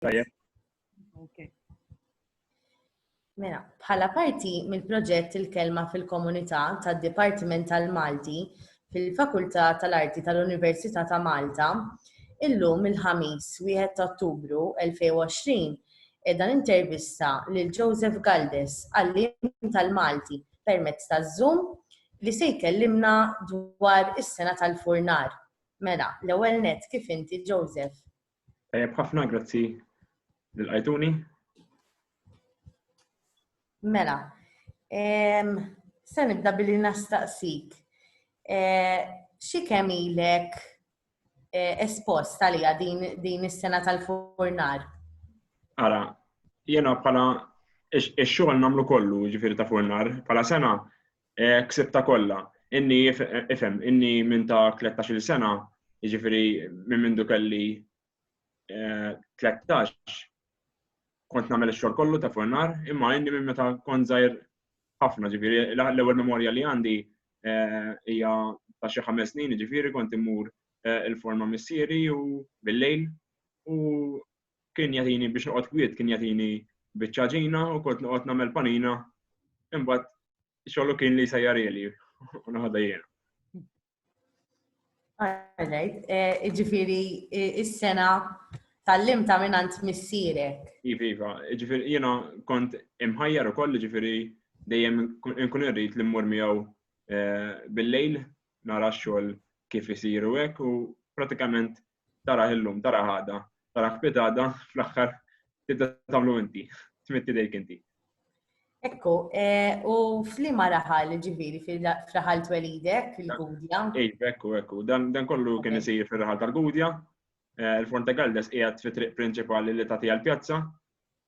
Tajjeb. Okay. Mela, bħala parti mill-proġett il-kelma fil-komunità tad-Dipartiment tal-Malti fil-Fakultà tal-Arti tal-Università ta' Malta, illum il-ħamis 1 ta' Ottubru 2020 edha intervista lil Joseph Galdes għallim tal-Malti permezz ta' Zoom li se jkellimna dwar is-sena tal-furnar. Mela, l-ewwel net kif inti Joseph? Tajjeb ħafna, grazzi lil Ajtuni. Mela, se nibda billi nastaqsik. Eh, xi kemm ilek eh, espost għalija din is-sena tal-furnar? Ara, jena bħala ix-xogħol nagħmlu kollu ġifieri ta' furnar, bħala sena Ksibtha kollha. Inni, ifhem, inni minn ta' tlettax-il sena, jiġifieri minn mindu kelli tlettax, kont nagħmel ix-xogħol kollu ta' fuq in-nar, imma inni minn meta kont żgħir ħafna, ġifieri l-ewwel memorja li għandi hija ta' xi ħames snin, jiġifieri kont immur 'il fuq ma' missieri u bil-lejl u kien jagħtini biex noqgħod kwiet, kien jagħtini biċċa ġina u kont noqgħod nagħmel panina, imbagħad xogħlu kien li jsejjar ili u naħodha jiena. Għalajt, eh, ġifiri, eh, is-sena tal-lim ta' minant missirek. Iva, iva, ġifiri, jena kont imħajjar u koll, ġifiri, dejjem nkun irrit li mmur miegħu eh, bil-lejl, nara xogħol kif isiru hekk u pratikament tara illum, tara ħada, tara kpitada, fl-aħħar tibda tagħmlu inti, tmitti dejk inti. Ekku, eh, u flima raħal ġiviri fil-raħal twelidek, il-Gudja? Ej, ekku, ekku, dan kollu kien isir fil-raħal tal-Gudja. Eh, Il-Forte Galdes qiegħed fi triq prinċipali li tagħti għall-pjazza,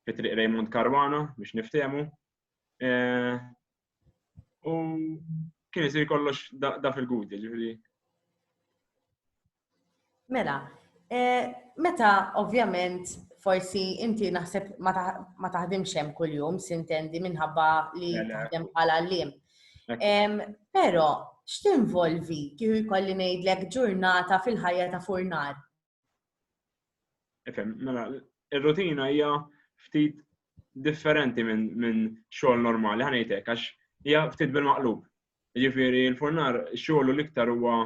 fi triq Raymond Caruana biex niftemu. Eh, u kien isir kollox da fil-Gudja, ġiviri. Mela, eh, meta ovvjament forsi inti naħseb ma taħdimx hemm kuljum sintendi minħabba li mela. taħdem bħala l-lim. Però x'tinvolvi kieku jkolli ngħidlek ġurnata fil-ħajja ta' furnar? Efem, mela, ir-rutina hija ftit differenti minn xogħol normali, ħanejtek, għax hija ftit bil-maqlub. Ġifieri l-furnar xogħlu l-iktar huwa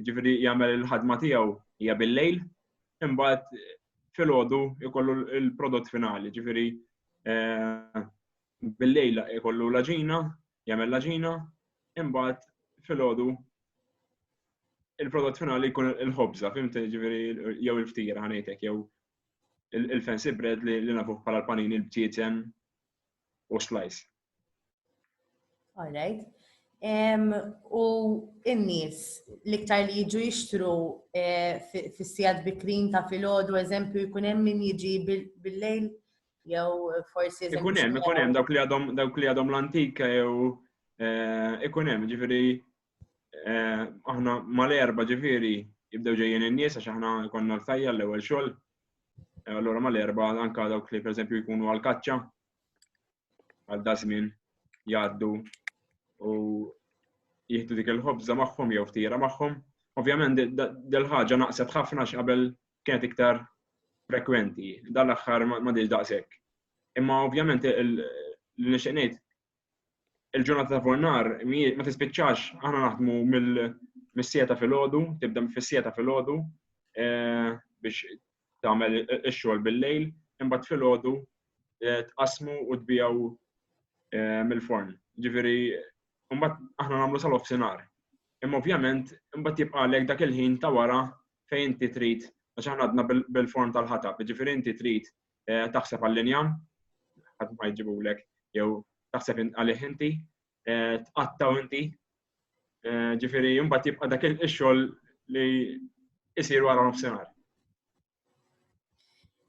ġifieri jagħmel il-ħadma tiegħu hija bil-lejl, imbagħad filgħodu jkollu l-prodott finali, ġifieri eh, bil-lejl jkollu l-aġina, jagħmel l-aġina, imbagħad filgħodu il-prodott finali jkun il-ħobza, fimti ġifieri jew il-ftira ħanejtek jew il-fancy bread li nafuh bħala l-panini l-btieten u slice. All right. Um, u n-nies l-iktar li jiġu jixtru eh, fis-sijad bikrin ta' filgħodu eżempju jkun hemm min jiġi bil-lejl jew forsi Ikun hemm, ikun hemm dawk li għadhom dawk li għadhom l-antika jew eh, ikun hemm ġifieri eh, aħna mal-erba ġifieri jibdew ġejjin in-nies għax aħna jkollna l-fajja l-ewwel xogħol. Allura mal-erba anka dawk li pereżempju jkunu għal kaċċa għal da żmien jgħaddu u jieħdu dik il-ħobża magħhom jew ftira magħhom. Ovvjament dil-ħaġa naqset ħafna x'qabel kienet iktar frekwenti, dan l-aħħar ma diġ daqshekk. Imma ovvjament il-nixtieq ngħid il-ġurnata ta' fornar ma tispiċċax aħna naħdmu mill-sieta fil-ħodu, tibda fis-sieta fil-ħodu eh, biex tagħmel ix-xogħol bil-lejl, imbagħad filgħodu eh, tqasmu u tbijaw eh, mill-forn. Ġifieri imbagħad aħna nagħmlu sal offsinar. Imma ovvjament imbagħad jibqa' lek dak il-ħin ta' wara fejn inti trid għax aħna għadna bil-forn tal-ħatab, ġifieri inti trid eh, taħseb għall-linjam, ħadd ma jġibulek jew taħseb għalih inti, eh, tqattaw inti. Eh, ġifieri mbagħad jibqa' dak ix-xogħol li jsir wara nofsinhar.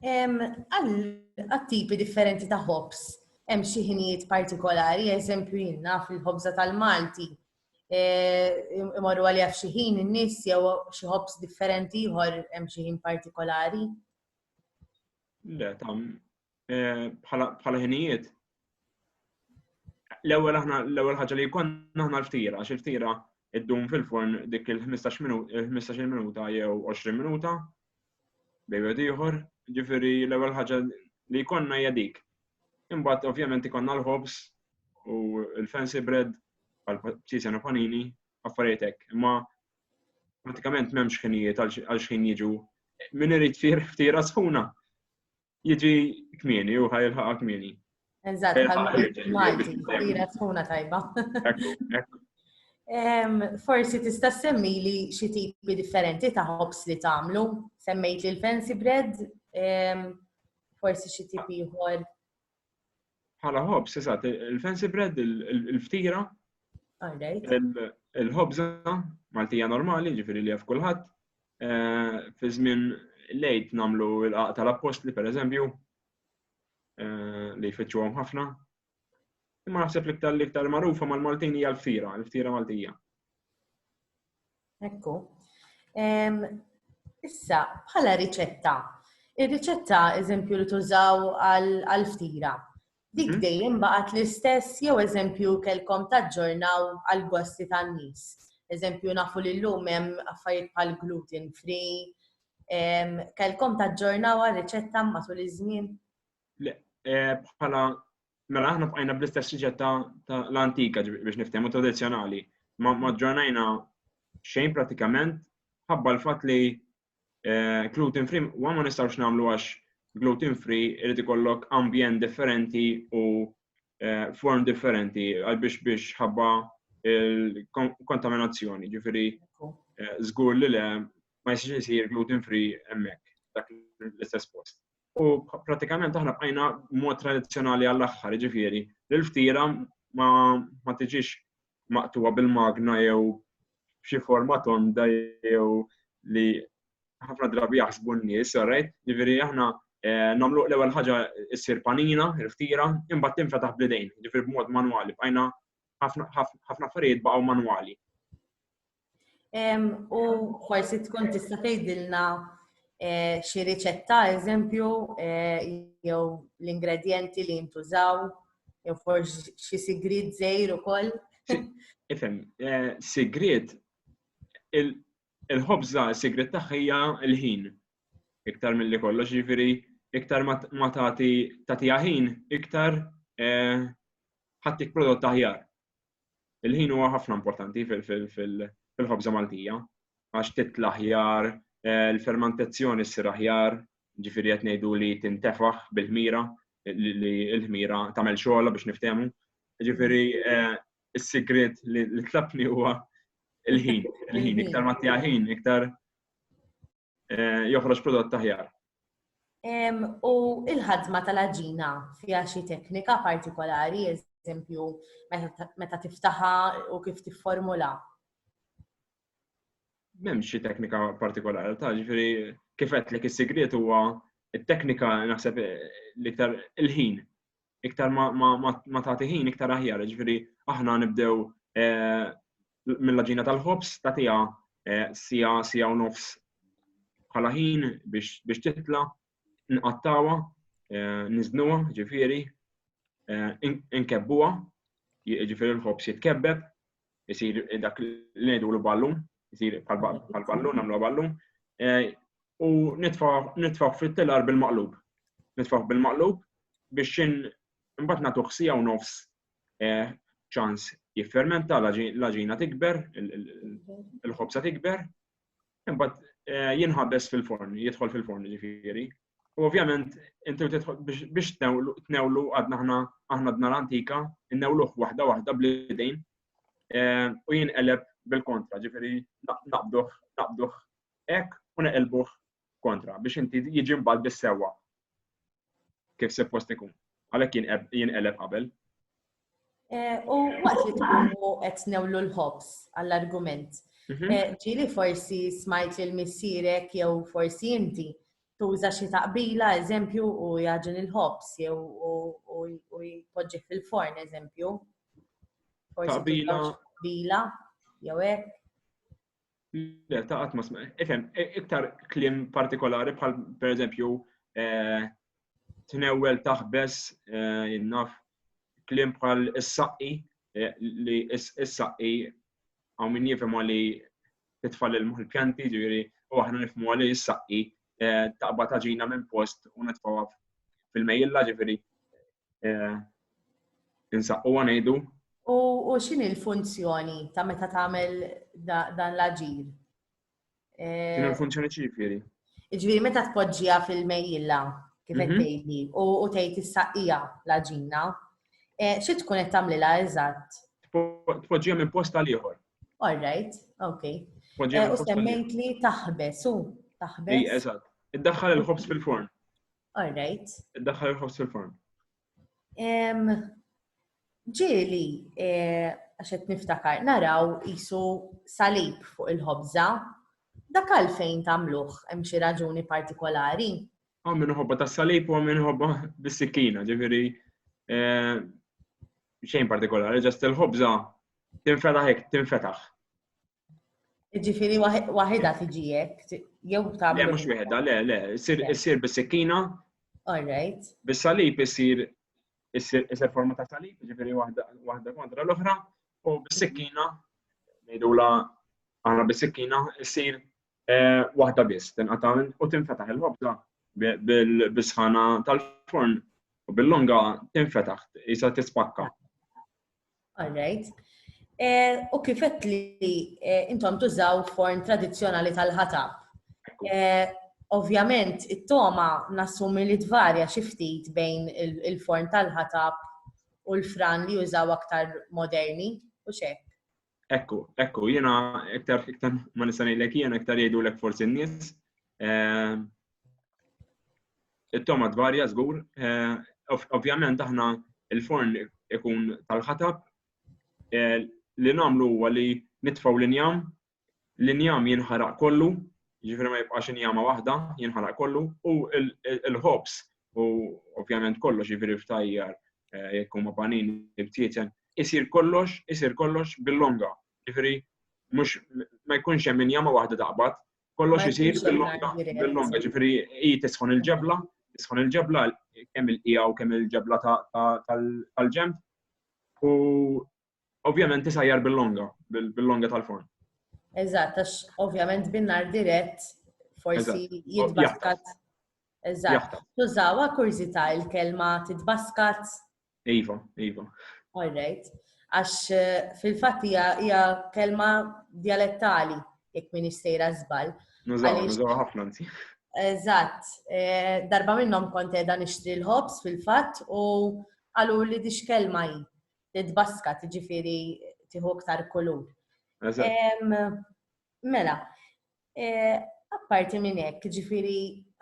Għal-tipi differenti ta' ħobs, hemm xi ħinijiet partikolari, eżempju jinna fil-ħobża tal-Malti, eh, imorru għalija f'xi ħin in-nies jew xi ħobs differenti ieħor hemm xi ħin partikolari. Le, tam, eh, bħala ħinijiet. L-ewwel aħna l-ewwel ħaġa li jkollna aħna l-ftira, għax il-ftira id-dum fil-forn dik il-15 eh, minuta jew 20 minuta bejju ieħor, ġifieri l-ewwel ħaġa li jkollna hija dik. Imbagħad ovvjament ikonna l-ħobs u l-fancy bread għal psisen u panini affarijiet hekk. Imma pratikament m'hemmx ħinijiet għal xħin jiġu min irid fir ftira sħuna. jiġi kmieni u ħajlħaqa kmieni. Eżatt, Malti, tira tkuna tajba. Forsi tista' semmi li xi tipi differenti ta' hops li tagħmlu. Semmejt li l-fancy bread, forsi xi tipi ieħor. Bħala ħobż, eżatt, il-fancy bread, il-ftira, il-ħobża Maltija normali, ġifiri li għaf kulħadd, eh, fi żmien lejt namlu l-qaq tal-appostli, per eżempju, eh, li jfittxu ħafna, Imma naħseb l-iktar l-iktar magħrufa mal-Maltin hija l-ftira, l-ftira Maltija. Ekku. Issa, bħala riċetta, ir-riċetta eżempju li tużaw għal-ftira, dik mhm. dejjem baqgħet l-istess jew eżempju kelkom taġġornaw għal-gosti tan-nies. Eżempju nafu li llum hemm affarijiet bħal gluten free, kelkom taġġornaw għal-riċetta matul iż-żmien? Le, eh, bħala Mela aħna bqajna bl-istess siġet ta' l-antika biex niftehmu tradizzjonali. Ma ġġornajna xejn pratikament ħabba l-fatt li eh, gluten free wa ma nistgħux nagħmlu għax gluten free irid ikollok ambjent differenti u eh, form differenti għal biex biex ħabba il-kontaminazzjoni, ġifiri żgur eh, li le ma jsir gluten free hemmhekk dak l-istess post. U pratikament aħna bqajna mod tradizzjonali għall-aħħar, ġifieri, li l-ftira ma tiġix maqtuwa bil-magna jew xi forma tonda jew li ħafna drabi jaħsbu n-nies, alright? Ġifieri aħna eh, nagħmlu l-ewwel ħaġa issir panina, il-ftira, imbagħad tinfetaħ bl-idejn, ġifieri b'mod manwali, bqajna ħafna affarijiet baqgħu manwali. U forsi tkun tista' tgħidilna eh, xi riċetta, eżempju, eh, jew l-ingredjenti li jintużaw, jew forsi xi sigrid żejr ukoll. Ifhem, eh, sigrid il-ħobża sigrid tagħha hija l-ħin iktar mill-li kollox, ġifieri iktar ma tagħti tagħtiha ħin, iktar ħattik prodott aħjar. Il-ħin huwa ħafna importanti fil-ħobża Maltija għax titla ħjar, eh, l-fermentazzjoni ssir aħjar, ġifiri qed ngħidu li tintefaħ bil-ħmira li l-ħmira tagħmel xogħla biex niftehmu. Ġifiri eh, is-sigriet li tlabni huwa il-ħin, il-ħin, iktar ma ħin, iktar eh, joħroġ prodott aħjar. U il-ħadma tal-aġina fija xi teknika partikolari, eżempju, meta tiftaħa u kif tifformula? Mem xi teknika partikolari, ta' ġifiri kifet li is-sigriet huwa il teknika naħseb l-iktar il-ħin iktar ma tagħti ħin iktar aħjar, ġifieri aħna nibdew eh, mill-ġina tal-ħobs ta' tiegħa eh, sija sija u nofs bħala ħin biex titla, nqattawa, eh, niznuwa, ġifieri, nkebbuha, ġifieri l-ħobs jitkebbeb, isir dak l-edu l-ballun, isir bħal-ballun, għamlu ballun, eh, u nitfaw fit-telar bil-maqlub. Nitfaw bil-maqlub biex xin mbatt natu xsija u nofs eh, ċans jiffermenta l-ġina tikber, il-ħobsa tikber, mbatt eh, jinħabbes fil-forn, jidħol fil-forn ġifiri, U ovvjament, inti biex tnewlu għadna ħna aħna dna l-antika, innewluħ waħda waħda bl-idejn eh, u jien eleb bil-kontra, ġifiri naqduħ, naqduħ ek u neqelbuħ kontra biex inti jiġi mbagħad bis-sewwa kif se post ikun. Għalhekk jien eleb qabel. Eh, u waqt li tkunu qed newlu l-ħobs għall-argument. Mhm. Eh, ġili forsi smajt li l-missirek jew forsi inti tuża xi taqbila, eżempju, u jaġin il-ħobs jew u jpoġġi fil-forn, eżempju. Taqbila. Taqbila, jew hekk. Le, ta' qatt ma smajt. Ifhem, e, iktar klim partikolari bħal pereżempju e, tnewwel taħbes e, jinnaf klim bħal is-saqqi li is-saqqi għaw min jifhem li titfall il-pjanti, ġiri, u aħna nifmu li is-saqqi taqba taġina minn post u nitfawa fil-mejjilla ġifiri eh, insaqqu għanajdu. U xini l-funzjoni ta' meta tagħmel dan l-aġir? Eh, xini l-funzjoni ċifiri? Ġviri, meta tpoġġija fil-mejjilla, kif qed mhm. tgħidli, u tgħid is-saqija l-aġina, eh, xi tkun qed tagħmlilha eżatt? Tpoġġija minn post għal ieħor. All right, okay. U semmejt li taħbes, u taħbes. Ej, eżatt. Iddaħħal il-ħobż fil-forn. All right. Daħħal il-ħobż fil-forn. Ġieli, eh, għax qed niftakar, naraw isu salib fuq il-ħobża. Dak għalfejn tagħmluh hemm xi raġuni partikolari? Għam minn ħobba ta' salib u għam minn ħobba bis-sikkina, ġifieri eh, xejn partikolari, ġast il-ħobża tinfetaħ hekk, tinfetaħ. Ġifiri waħida tiġi jekk, jew ta' Le, mhux wieħda, le, le, issir bis-sikkina. All right. Bis-salib issir issir forma ta' salib, ġifiri waħda kontra l-oħra, u bis-sikkina, ngħidula aħna bis-sikkina, issir eh, waħda biss, tinqata' u tinfetaħ il-ħobza bil-bisħana tal-forn u bil-longa tinfetaħ, jisa tispakka. All right. Eh, u kifet li eh, intom tużaw forn tradizjonali tal-ħatab. Eh, ovvjament, it-toma nassumi li tvarja xiftit bejn il-forn tal-ħatab u l-fran li jużaw aktar moderni u xek. Ekku, ekku, jiena iktar iktar ma nista' ngħidlek jiena iktar jgħidulek forsi n-nies. Eh, it-toma tvarja żgur, eh, ovvjament aħna il-forn ikun tal-ħatab eh, li nagħmlu huwa li nitfgħu l-injam L-injam jinħaraq kollu, jiġifieri ma jibqax injama waħda, jinħaraq kollu, u l-ħobż u ovvjament kollox jiġifieri ftajjar jekk huma panin ibtieten, isir kollox, isir kollox bil-longa. Jiġifieri mhux ma jkunx hemm injama waħda taqbad, kollox isir bil-longa, bil-longa, jiġifieri hi tisħon il-ġebla, tisħon il-ġebla kemm il-qiegħu kemm il-ġebla tal-ġenb u Ovvjament tisajjar bil-longa, bil-longa tal-forn. Eżatt, għax ovvjament bin-nar dirett forsi jitbaskat. Eżatt. Tużawa kurzita il-kelma titbaskat. Iva, iva. All right. Għax eh, fil-fatt hija kelma dialettali jekk min istejra żball. Nużaw, nużaw ħafna nti. Eżatt, eh, darba minnhom kont qiegħda nixtri l-ħobs fil-fatt u qalu li dix kelma hi. titbaska, tiġifieri tieħu iktar kulur. Mela, e, apparti minn hekk, ġifieri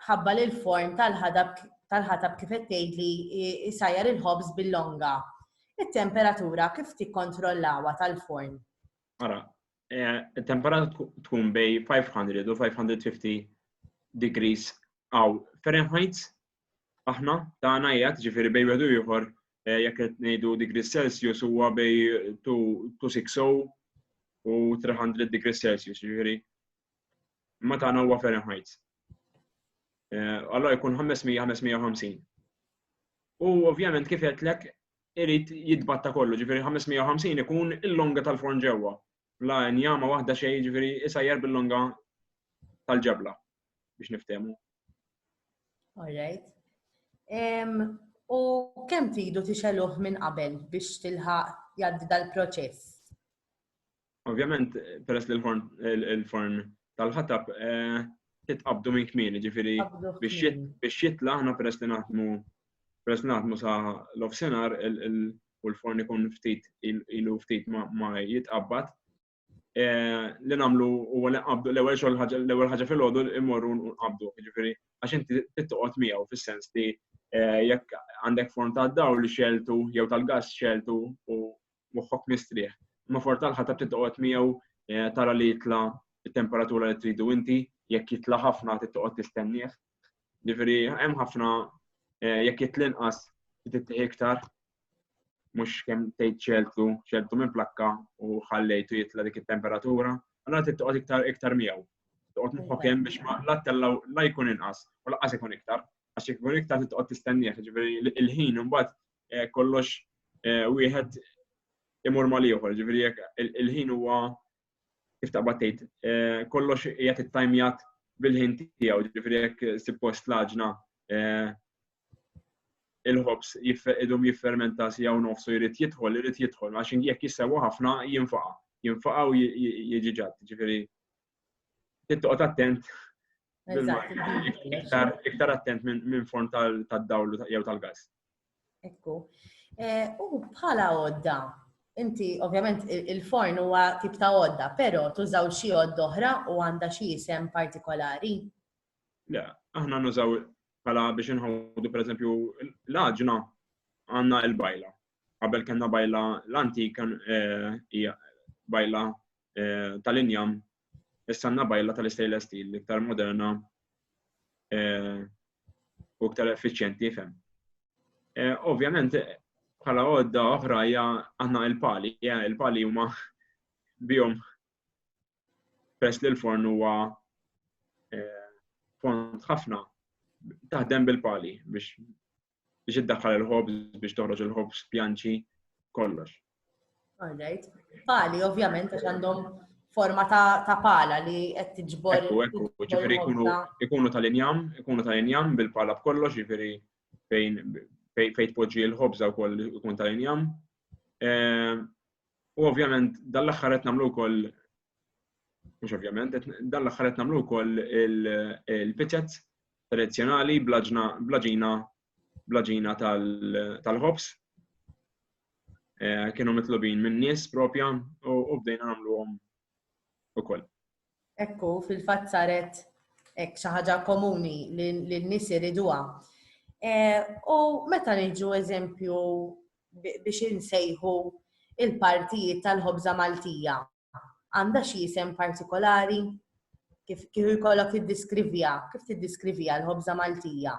ħabba l form tal-ħadab tal-ħatab kif qed tgħidli jsajjar il-ħobż bil-longa. It-temperatura kif tikkontrollawha tal-forn? Ara, e, it-temperatura tkun bej 500 u 550 degrees għaw Fahrenheit aħna tagħna qiegħed ġifieri bej wieħed u ieħor eh, jekk qed ngħidu degrees Celsius huwa bej 260 u 300 degrees Celsius, ġifieri ma tagħna huwa Fahrenheit. Eh, allora jkun 500-550. U ovvjament kif qedlek irid jitbatta kollu, ġifieri 550 ikun il-longa tal-forn ġewwa. bla injama waħda xejn jiġifieri isajjar bil-longa tal-ġabla biex niftehmu. Alright. U kemm tridu tixeluh minn qabel biex tilħaq jgħaddi dal-proċess? Ovvjament, peress li l-forn tal-ħatab eh, titqabdu minn kmini, ġifiri biex jitla ħna peress li naħdmu peress li naħdmu sa l-offsenar u l-forn ikun ftit ilu ftit ma jitqabbad. Eh, li namlu u li qabdu l-ewwel xogħol l-ewwel ħaġa fil-għodu immorru nqabdu, jiġifieri għax inti tittoqgħod miegħu fis-sens li eh, jekk għandek forn ta' dawl li xeltu jew tal-gass xeltu u moħħok mistrieħ. Ma for tal-ħatab tittoqgħod miegħu eh, tara li jitla temperatura li tridu inti, jekk jitla ħafna tittoqgħod tistennieh Ġifieri hemm ħafna eh, jekk jitlinqas tittieħ iktar mhux kemm tgħid ċeltu, ċeltu minn plakka u ħallejtu jitla' dik it-temperatura, allora trid toqgħod iktar iktar miegħu. Toqgħod moħħok hemm biex ma la tellaw la jkun inqas u laqas ikun iktar. Għax jekk ikun iktar trid toqgħod tistennieh, ġifieri il-ħin imbagħad eh, kollox eh, wieħed imur mal ieħor, ġifieri jekk il-ħin huwa kif taqbad tgħid, eh, kollox jgħat it-tajmjat bil-ħin tiegħu, ġifieri jekk sippost laġna eh, il-ħobs idum jiffermenta si għaw nofsu jrid jidħol, jrid jidħol, għax jekk jissewa ħafna jinfaqa, jinfaqa u jieġiġat, ġifiri. Tittoqot attent, iktar attent minn form tal-dawlu jew tal-gas. Ekku. Eh, u bħala għodda, inti ovvjament il-forn huwa tip ta' għodda, però tużaw xi għodda oħra u għandha xi isem partikolari? Le, aħna nużaw bħala biex inħawdu pereżempju l-aġna għandna l-bajla. Qabel kellna bajla l-antik eh, hija bajla eh, tal-injam Issa għandna bajla tal-istainless steel li iktar moderna eh, u iktar effiċjenti fem. Eh, ovvjament, bħala għodda oħra hija għandna il-pali, il-pali huma bihom pers li l-forn huwa eh, fond ħafna taħdem bil-pali biex biex iddaħħal il-ħobż biex toħroġ il-ħobż pjanċi kollox. All right. Pali, ovvjament, għax għandhom forma ta' pala li qed tiġbor. Ekku, ekku, ġifiri ikunu tal-injam, ikunu tal-injam bil-pala b'kollox, ġifiri fejn fejn tpoġġi l-ħobża wkoll ikun tal-injam. Ehm, u ovvjament dal-aħħar qed nagħmlu wkoll mhux ovvjament, dal-aħħar qed nagħmlu wkoll il-pizzet tradizzjonali bl-ġina bl-ġina tal-ħobs. Eh, kienu mitlubin minn nies propja u bdejna nagħmluhom ukoll. Ekku, fil-fatt saret ek xi ħaġa komuni li n-nies iriduha. Eh, u meta niġu eżempju biex insejħu il-partijiet tal-ħobża Maltija. għandha xi isem partikolari? Kif kif ikollok tiddiskrivija, kif tiddiskrivija l-ħobża Maltija?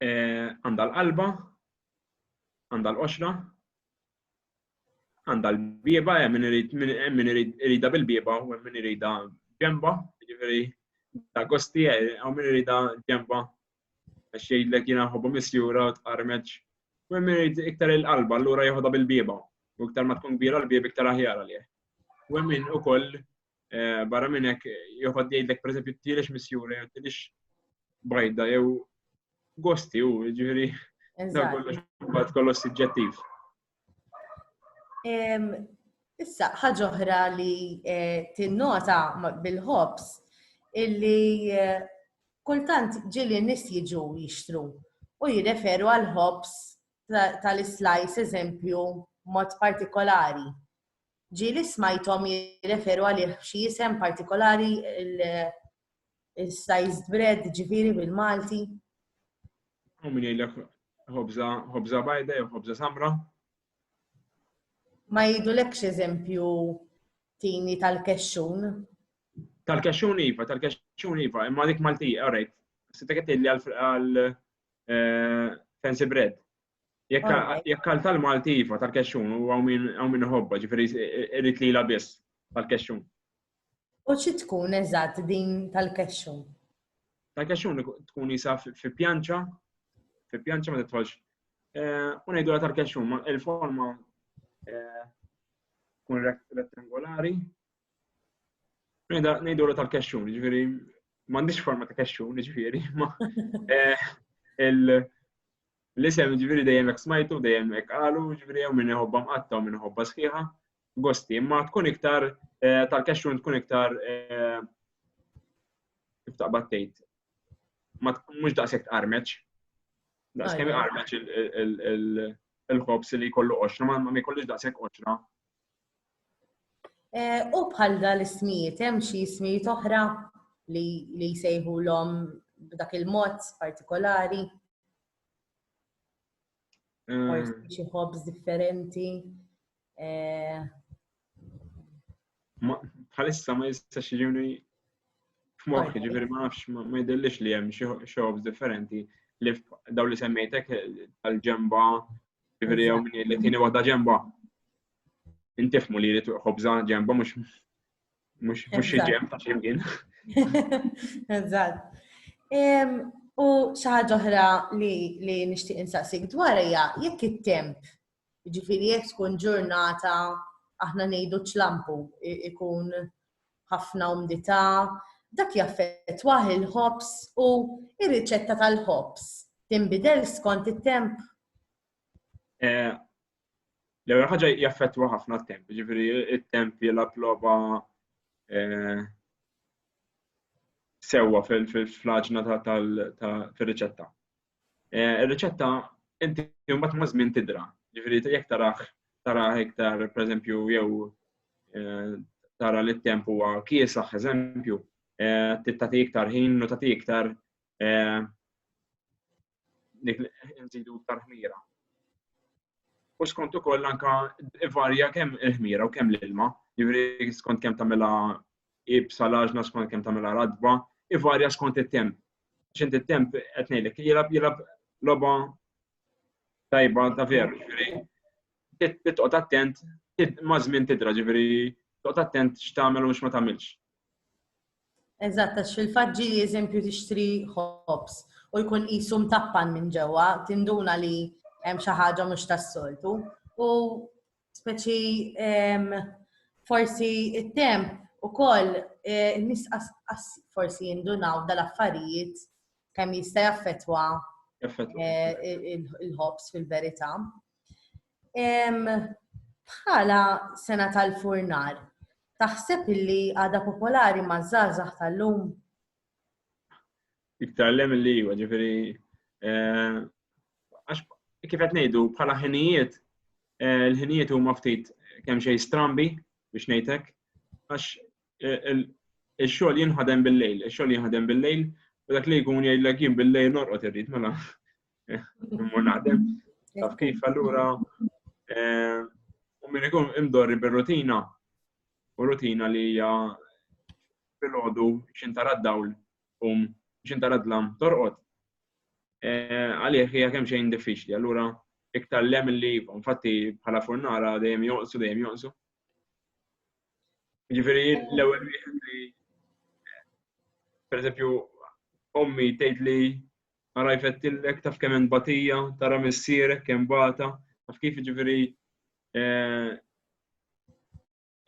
Eh, għandha l-qalba, għandha l-qoxra, għandha l-bieba, eh, min irid irida bil-bieba u min irida ġemba, ġifieri ta' gosti, eh, u min irida ġemba Għax jgħidlek jiena nħobbu misjura u tqarmeġ. U hemm irid iktar il-qalba, allura jeħodha bil-bieba. U iktar ma tkun kbira l-bieb iktar aħjar għalih. U hemm min ukoll eh, barra minn hekk joħod jgħidlek pereżempju tielix misjura jew tielix bajda jew gosti u ġifieri dan kollox imbagħad kollox suġġettiv. Issa, ħaġa oħra li eh, tinnota bil-ħobs illi eh, kultant ġili nis jiġu jixtru u jirreferu għal ħobs tal-slice eżempju mod partikolari. Ġili smajtom jirreferu għal xi jisem partikolari Is-sized bread ġifieri bil-Malti? U min jgħidlek ħobża ħobża bajda jew ħobża samra? Ma jgħidulekx eżempju tini tal-kexxun? Tal-kexxun iva, tal-kexxun iva, imma dik Malti, alright. Sitta qed li għal eh, fancy bread. Jekk għal tal-Malti iva tal-kexxun u għaw minn hobba ġifiri irrit li la biss tal-kexxun. U xi tkun eżatt din tal-kexxun? Tal-kexxun tkun jisa fi pjanċa, fi pjanċa ma titħolx. Eh, u ngħidu tal-kexxun, ma il-forma eh, tkun rettangolari. Ngħidu tal-kexxun, ġifieri m'għandix forma ta' kexxun, ġifieri, ma eh, il- L-isem ġifieri dejjem hekk smajtu, dejjem hekk qalu, ġifieri hawn min iħobba mqatta' u min iħobba sħiħa. Gosti, imma tkun iktar eh, tal-kexxun tkun iktar eh, kif taqbad tgħid. Mhux daqshekk tqarmeċ. Daqskemm iqarmeċ il-ħobs li jkollu qoxra, ma jkollux daqshekk qoxra Eh, u bħal dal-ismijiet, hemm xi ismijiet oħra li jsejħu l-om b'dak il-mod partikolari? Mm. Forsi xi ħobż differenti. Eh, bħalissa ma jistax jiġuni f'moħħi, ġifieri ma nafx ma jdellix li hemm xi ħobż differenti li daw li semmejtek tal-ġemba Ġifieri jew min jgħidlek tieni waħda ġenba. Intifmu li jrid ħobża ġenba mhux mhux mhux xi ġenb ta' ximkien. Eżatt. U xi ħaġa oħra li li nixtieq insaqsik dwar hija jekk it-temp, ġifieri jekk tkun ġurnata aħna ngħidu ċlampu ikun ħafna umdità, dak jaffettwah il-ħobż u r-riċetta tal-ħobż tinbidel skont it-temp? Eh, l-ewwel ħaġa jaffettwa ħafna t-temp, ġifieri it-temp jilgħab logħba eh, sewwa fil-flaġna fil-riċetta. Eh, ir-riċetta inti mbagħad ma' żmien tidra. Ġifieri jekk taraħ tara iktar pereżempju jew eh, tara li t-temp huwa kiesaħ eżempju, eh, tagħti iktar ħin u tagħti iktar nżidu iktar ħmira. U skont ukoll anka varja kemm il-ħmira u kemm l-ilma, jiġri skont kemm tagħmilha ibsa laġna skont kemm tagħmilha radba, ivarja skont it-temp. Xint it-temp qed ngħidlek jilab jilab logħba tajba ta' veru, ġifieri. Titqgħod attent ma' żmien tidra, ġifieri toqgħod attent x'tagħmel u x'ma tagħmilx. Eżatt, għax fil-fatt ġi eżempju tixtri ħobs u jkun qisu mtappan minn ġewwa, tinduna li hemm xi ħaġa mhux tas-soltu. U speċi forsi it-temp ukoll eh, nis forsi jindunaw dal-affarijiet kemm jista' jaffetwa eh, il-ħobs fil-verità. Bħala sena tal-furnar, taħseb illi għada popolari ma' żgħażagħ tal-lum? Iktar lem li jiva, ġifiri, eh, għax kif qed ngħidu bħala ħinijiet, eh, l-ħinijiet huma ftit kemm xejn strambi biex ngħidlek, għax eh, il-xogħol jinħadem bil-lejl, il-xogħol jinħadem bil-lejl, u dak li jkun jgħidlek jien bil-lejl norqod irrid mela immur naħdem. Taf kif allura eh, u minn ikun imdorri bir-rutina u rutina li hija fil-ħodu xintara d-dawl um xintara d-lam torqod. Eh, għalih hija kemm xejn diffiċli, allura iktar lem li infatti bħala furnara dejjem joqsu dejjem joqsu. Ġifieri l-ewwel wieħed li per eżempju ommi tgħid li ara jfettillek, taf kemm hemm batija, tara missierek kemm bata, taf kif ġifieri eh,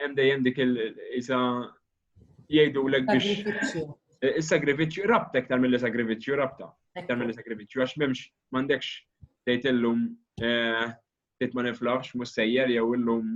hemm dejjem dik il-isa jgħidulek biex is-sagrifiċċju eh, rabtek tal milli sagrifiċċju rabta tal milli sagrifiċċju għax m'hemmx m'għandekx tgħid illum eh, tgħid ma niflaħx mhux sejjer jew illum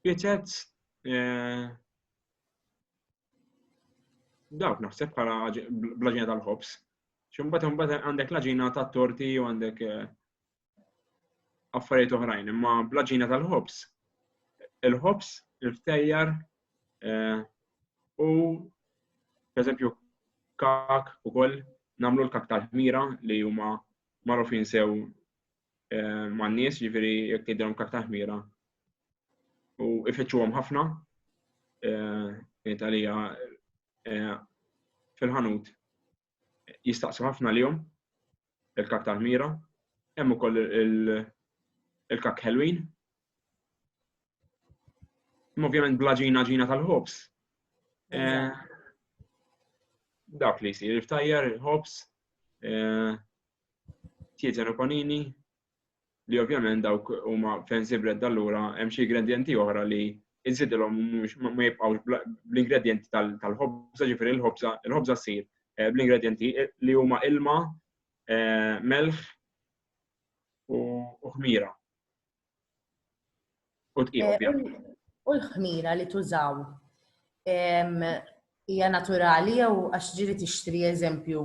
Bietet eh, dawk naħseb bħala blaġina tal-ħobs. Xumbat mbagħad għandek laġina ta' torti u għandek eh, affarijiet oħrajn, imma blaġina tal-ħobs. Il-ħobs, il-ftejjar eh, u pereżempju kak ukoll nagħmlu l-kak tal-ħmira li huma marufin sew eh, man nies ġifieri jekk jidhom karta ħmira. U ifittxuhom ħafna eh, Italija eh, fil-ħanut jistaqsu ħafna lihom il-karta ħmira, hemm ukoll il-kak ħelwin. Ovvjament bla ġina ġina tal-ħobs. Dak li jsir, il-ftajjar, il-ħobs, Tietjen Okonini, li ovvjament dawk huma fancy bread allura hemm xi ingredienti oħra li insidilhom mhux ma jibqgħux bl-ingredienti tal-ħobża, ġifieri l-ħobża, il-ħobża ssir eh, bl-ingredienti eh, li huma ilma, eh, melħ u ħmira. U tqim eh, ovvjament. U l-ħmira li tużaw hija naturali jew għax ġiri tixtri eżempju.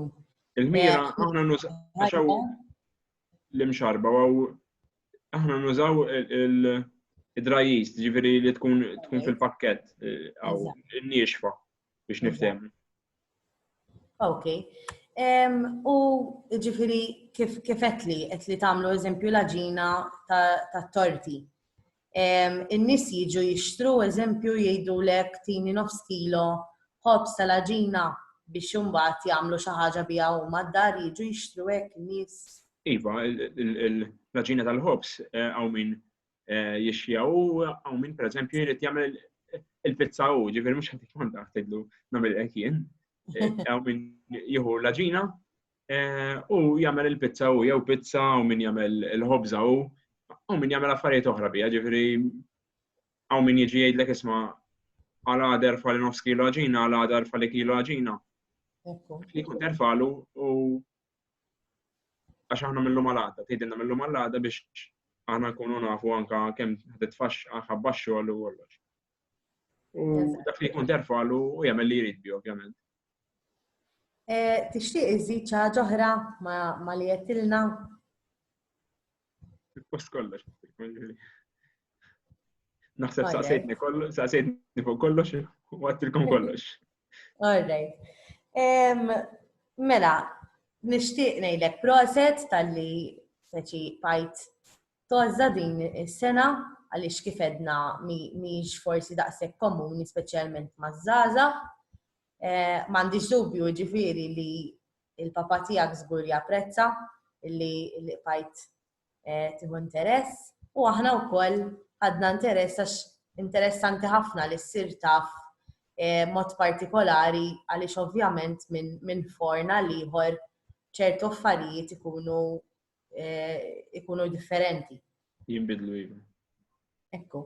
Il-ħmira eh, aħna nużaw l-imxarba għaw aħna nużaw il-drajis, ġifiri li tkun fil-pakket eh, għaw il-niexfa biex niftem. Ok. U ġifiri kif etli, etli tamlu eżempju laġina ta' torti. In-nis jiġu jixtru eżempju jgħidu lek tini nofs kilo ħobs ta' laġina biex jumbat jamlu xaħġa bija u mad-dar jiġu jixtru hekk nis. Iva, l-laġina tal-ħobs għaw eh, min eh, jixxija u għaw minn per eżempju jrid jagħmel il-pizza u ġifieri mhux ħadd ikun taħtidlu nagħmel hekk jien. Eh, għaw minn jieħu l-ġina eh, u jagħmel il-pizza u jew pizza u min jagħmel il-ħobża u u min jagħmel affarijiet oħra bija, ġifieri għaw min jiġi jgħidlek isma' għal għader fali nofs kilo ġina, għal għader fali kilo ġina. Li kun terfalu u għax aħna millu mal-għada, tgħidilna millu mal-għada biex aħna nkunu nafu anka kemm ħadet faxx ħabba xogħol u kollox. U dak li jkun terfal u jagħmel li jrid bi ovvjament. Eh, tixtieq iżid ċaġa oħra ma li jettilna? Il-post kollox. Naħseb saqsejtni kollox, saqsejtni fuq kollox, u għattilkom kollox. Alright. Mela, nishtiq nejlek proset tal-li seċi pajt toħza din is-sena għaliex kif edna miex forsi daqshekk komuni speċjalment maż-żgħażagħ. Eh, m'għandix dubju ġifieri li Il-papa tiegħek żgur li japprezza li qbajt eh, tieħu interess u aħna wkoll ħadna interess għax interessanti ħafna li ssir taf eh, mod partikolari għaliex ovvjament minn forna liħor ċertu affarijiet ikunu eh, ikunu differenti. Jimbidlu jimbidlu. Ekku.